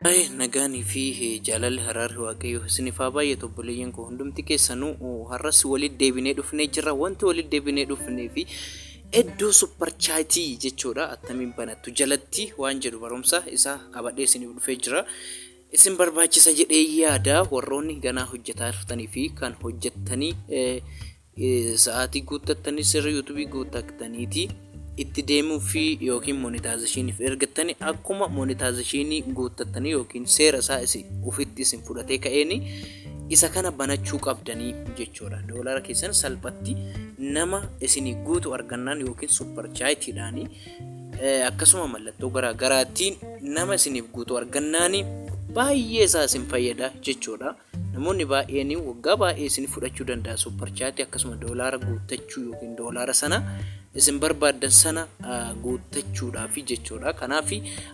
Baay'ee nagaanii fi jaalalli haraarri waaqayyoo isiniif haa baay'atu obboleeyyan koo hundumti keessanuu har'as walitti deebinee dhufnee jirra wanti walitti deebinee dhufnee fi iddoo supparchaatii jechuudha attamiin banattu jalatti waan jedhu barumsa isaa qabadhee isiniif dhufee jira. Isin barbaachisa jedhee yaada warroonni ganaa hojjetaa jirtanii fi kan hojjettanii sa'aatii guuttattanii sirri yuutubii guuttattaniiti itti deemuu fi yookiin monitaazishiiniif ergattanii akkuma monitaazishiinii guuttattanii yookiin seera isaa isin ofitti isin fudhatee ka'eeni isa kana banachuu qabdanii jechuudha. Doolara keessan salphatti nama isinii guutu argannaan yookiin supparchaayitiidhaanii akkasuma mallattoo garaa garaatiin nama isiniif guutu argannaani baay'ee isaa isin fayyada jechuudha. Namoonni baay'een waggaa baay'ee isin fudhachuu danda'a supparchaatii akkasuma doolaara guuttachuu yookiin doolaara sana isin barbaaddan sana guuttachuudhaaf jechuudha. Kanaaf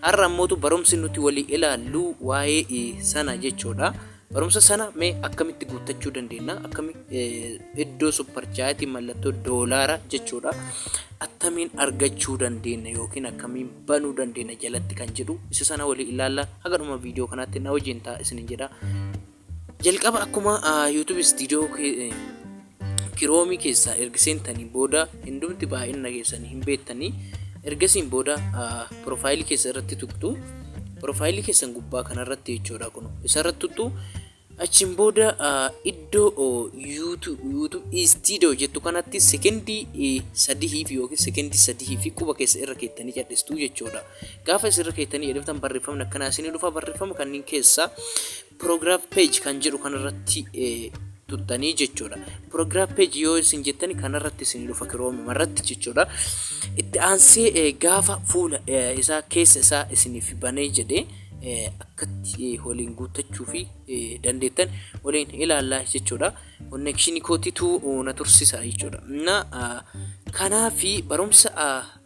har'a ammootu barumsi nuti walii ilaallu waa'ee sana jechuudha. Barumsa sana mee akkamitti guuttachuu dandeenya? Akkami iddoo supparchaayitii mallattoo doolaara jechuudha. Attamiin argachuu dandeenya yookiin akkamiin banuu dandeenya jalatti kan jedhu isa sana walii ilaalla. Haga dhuma viidiyoo kanaatti na wajjin ta'a isinin jedha. Jalqaba akkuma YouTube studio Kiroomii keessaa ergi seentanii booda hindumti baay'inna keessan hin beettanii ergasiin booda piroofaayilii keessan irratti tuqxu piroofaayilii keessan gubbaa kana irratti jechuudha kun isa irratti tuqxu achiin booda iddoo yuutuub istiidoo jettu kanatti sekendii sadihiif yookiin sekendii sadihiif quba keessa irra keettanii cadhistuu jechuudha gaafa isin irra keettanii jedhamtan barreeffamni akkanaa isin dhufa barreeffama kanneen keessaa Program page kan jedhu kanarratti tuttanii jechuudha. Program page yoo isin jettani kanarratti isin dhufa Chrome irratti jechuudha. Itti aansee gaafa fuula isaa keessa isaa isiniif banee jedhee akkatti waliin guuttachuu fi dandeettan waliin ilaallaa jechuudha. Konnekshinii kootitu na tursisa jechuudha. Na kanaafi barumsa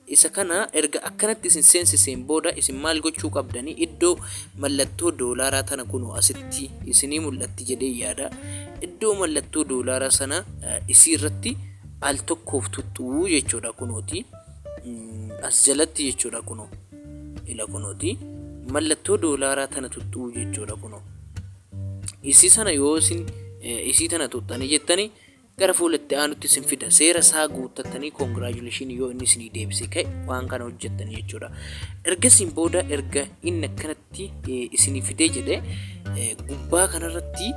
Isa kana erga akkanatti isin seensiseen booda isin maal gochuu qabdanii iddoo mallattoo doolaaraa tana kunoo asitti isinii mul'atti jedheen yaada iddoo mallattoo doolaaraa sana isii irratti al tokkoof tuxxuu jechuudha kunooti as jalatti jechuudha kunoo ila kunooti mallattoo doolaaraa tana tuxxuu jechuudha kunoo isii sana yoo isin isii tana tuxxanii jettanii Gara fuula itti aanutti isin fida. Seera isaa guuttattanii congratulations yoo inni isinii deebisee ka'e waan kana hojjettanii jechuudha. Ergasiin booda erga inni akkanatti eh, isinii fidee jedhe eh, gubbaa kanarratti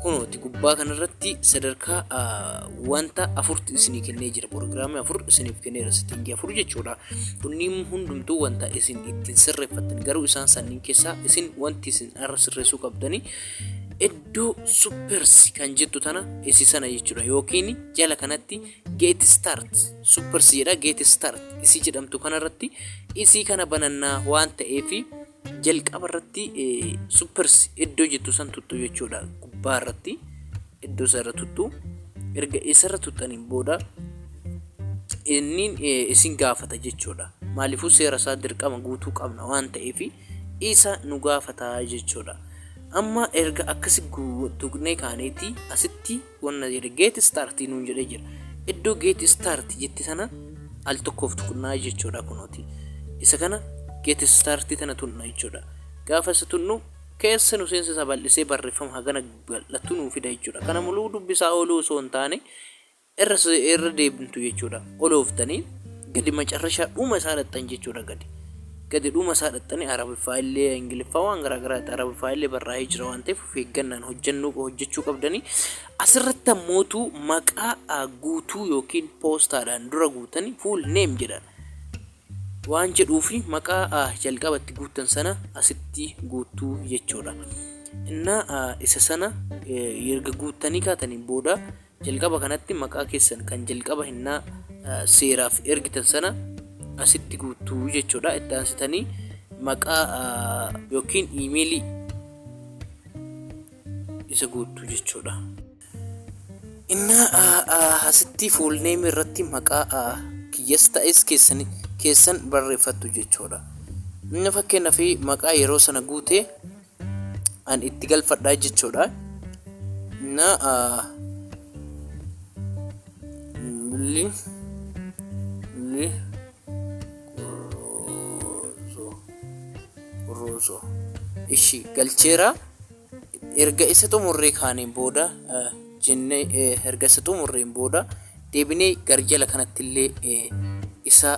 kunooti gubbaa kanarratti sadarkaa ah, wanta afurtu isinii kennee jira proogiraamii afur isiniif kenneera sittingii afur jechuudha kunniin hundumtuu wanta isin ittiin sirreeffattan garuu isaan sanniin keessaa isin wanti isin har'a sirreessuu qabdanii Do supers kan jettu tana isi sana jechuudha yookiin jala kanatti get start supers jedha get start isi jedhamtu kanarratti isii kana banannaa waan ta'eef jalqaba irratti supers iddoo jettu san tuttu jechuudha gubbaa irratti iddoo sana tuttu erga isarra tuttaniin booda inni isin gaafata jechuudha maaliifuu seera isaa dirqama guutuu qabna waan ta'eef isa nu gaafata jechuudha. Amma erga akkasi tuqnee kaaneeti asitti wanna jedhe get start nuun jedhee jira. Iddoo get start jette sana al tokkoof tuqnaa jechuudha kunooti. Isa kana get start tana tunna jechuudha. Gaafa isa tunnu keessa nu seensisa bal'isee barreeffama hagana bal'atu nuu fida jechuudha. Kana muluu dubbisaa ooluu osoo hin taane Irra irra deebimtu jechuudha olooftanii gadi macarrashaa dhuma isaa dhaqxan jechuudha gadi gadi dhuma isaa dhaqxanii arabiffaa illee ingiliffaa waan garaa garaatti arabiffaa illee barraa'ee jira waan ta'eef of eeggannaan hojjannuu hojjechuu qabdanii asirratti ammootu maqaa guutuu yookiin poostaadhaan dura guutanii fuul neem jedhan waan jedhuu fi maqaa jalqabatti guuttan sana asitti guuttuu jechuudha. Innaa isa sana erga guuttanii kaataniin booda Jalqaba kanatti maqaa keessan kan jalqaba hennaa seeraaf ergitan sana asitti guuttu jechuudha. Itti aansitanii maqaa yookiin iimeelii isa guuttu jechuudha. Innaa asitti fuulneemii irratti maqaa kiyyas ta'es keessan keessan barreeffattu jechuudha. Inni fakkeenyaaf maqaa yeroo sana guute an itti galfadha jechuudha na li li kurruuso ishi galcheera erga isa xumurree kaaniin booda jenne erga isa xumurreen booda deebinee garjala kanattillee isa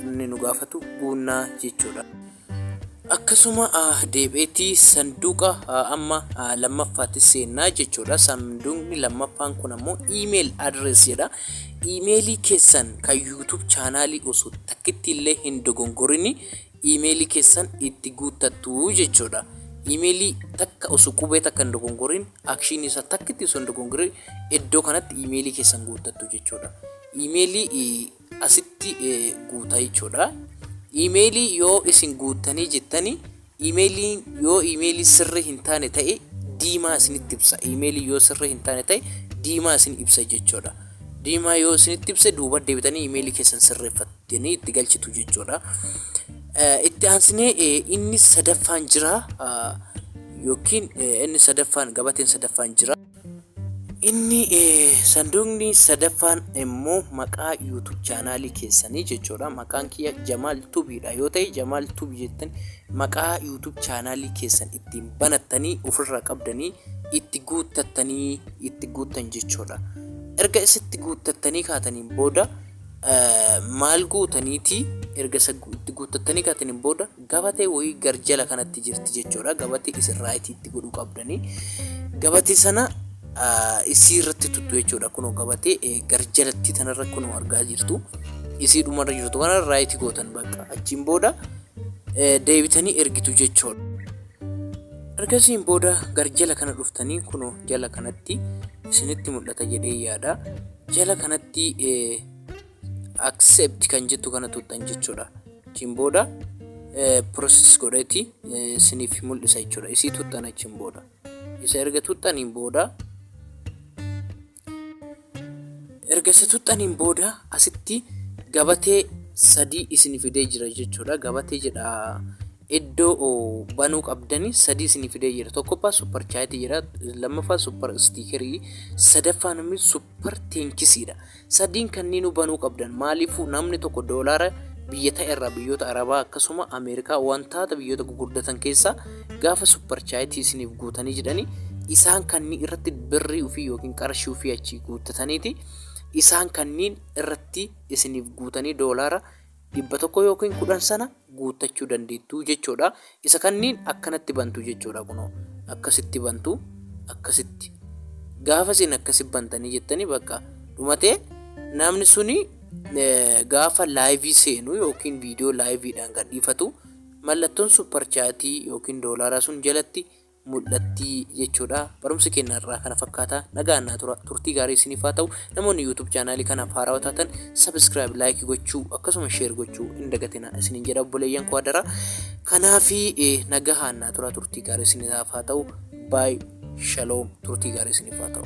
inni nu gaafatu guunnaa jechuudha. Akkasuma deebi'eeti sanduuqa amma lammaffaatti seenna jechuudha. Sanduuqni lammaffaan kun ammoo email address jedha. Imeelii keessan kan YouTube chaanaalii osoo takkitti illee hin dogongorini imeelii keessan itti guuttattu jechuudha. Imeelii takka osoo qubee takka hin dogongorin akshiinii isaa takkitti osoo hin dogongorin iddoo kanatti imeelii keessan guuttattu jechuudha. Imeelii asitti guuta jechuudha. Email yoo isin guuttanii jettani email yoo email sirrii hin taane ta'e diimaa isinitti ibsa. Email yoo sirrii hin taane ta'e diimaa isin ibsa jechuudha. Diimaa yoo isinitti ibse duuba deebitanii email keessan sirreeffattanii itti galchitu jechuudha. Itti aansinee inni sadaffaan jira yookiin inni sadaffaan gabateen sadaffaan jira. Inni sanduuqni sadaffaan immoo maqaa YouTube chaanaalii keessanii jechuudha. Maqaan kiyya Jamaal Tubiidha yoo ta'e Jamaal Tubi jettan maqaa YouTube chaanaalii keessan ittiin banattanii ofirraa qabdanii itti guuttattanii itti guuttan jechuudha. Erga isitti guuttattanii kaataniin booda maal guutaniiti erga itti guuttattanii kaataniin booda Gabatee woyii garjala kanatti jirti jechoodha. Gabatee isin right itti godhuu qabdanii. Gabatee sana isii irratti tuttu jechoodha. Kunoo gabatee garjalattii tanarra kunoo argaa jirtu. Isii dhumarra jirtu kana right gootan bakka. Achiin booda deebitanii ergitu jechoodha. Ergasiin booda garjala kana dhuftanii kunoo jala kanatti isinitti mul'ata jedhee yaada. Jala kanatti accept kan jettu kana tuqxan jechuudha achiin booda process godheeti isiniif mul'isa jechuudha isii tuqxan achiin booda isa erga tuqxaniin booda erga isa tuqxaniin booda asitti gabatee sadii isin fidee jira jechuudha gabatee jedha iddoo banuu qabdanii sadii isin fidee jira tokkoffaa super chaayitii jira lammaffaa super stiikerii sadaffaan immoo super teenkisiidha Sadiin kanniin hubanuu qabdan maaliifuu namni tokko doolaara biyya ta'e irraa biyyoota arabaa akkasuma ameerikaa wantaata biyyoota gugurdatan keessaa gaafa supparchaayitii isiniif guutanii jedhanii isaan kannii irratti birrii ufii yookiin qarshii ufii achii guuttataniiti isaan kanniin irratti isiniif guutanii doolaara dhibba tokko yookiin kudhan sana guuttachuu dandeettu jechuudha. Isa kanniin akkanatti bantu jechuudha kunoo akkasitti bantu akkasitti gaafa isin akkasi bantanii jettanii bakka dhumate namni suni gaafa laayivii seenu yookiin viidiyoo laayiviidhaan gadhiifatu mallattoon supparchaatii yookiin doolaaraa sun jalatti mul'atti jechuudha. Barumsi keenya har'aa kana fakkaata. Nagaan naa tura. Turtii gaarii isiniif haa ta'u. Namoonni YouTube chaanaalii kanaaf haarawa taatan subscribe, like gochuu akkasuma share gochuu hin dagatinaa isiniin jedha obboleeyyan koo hadaraa. Kanaafi nagahaan naa tura turtii gaarii isiniif haa ta'u. Bye shalom turtii gaarii isiniif haa ta'u.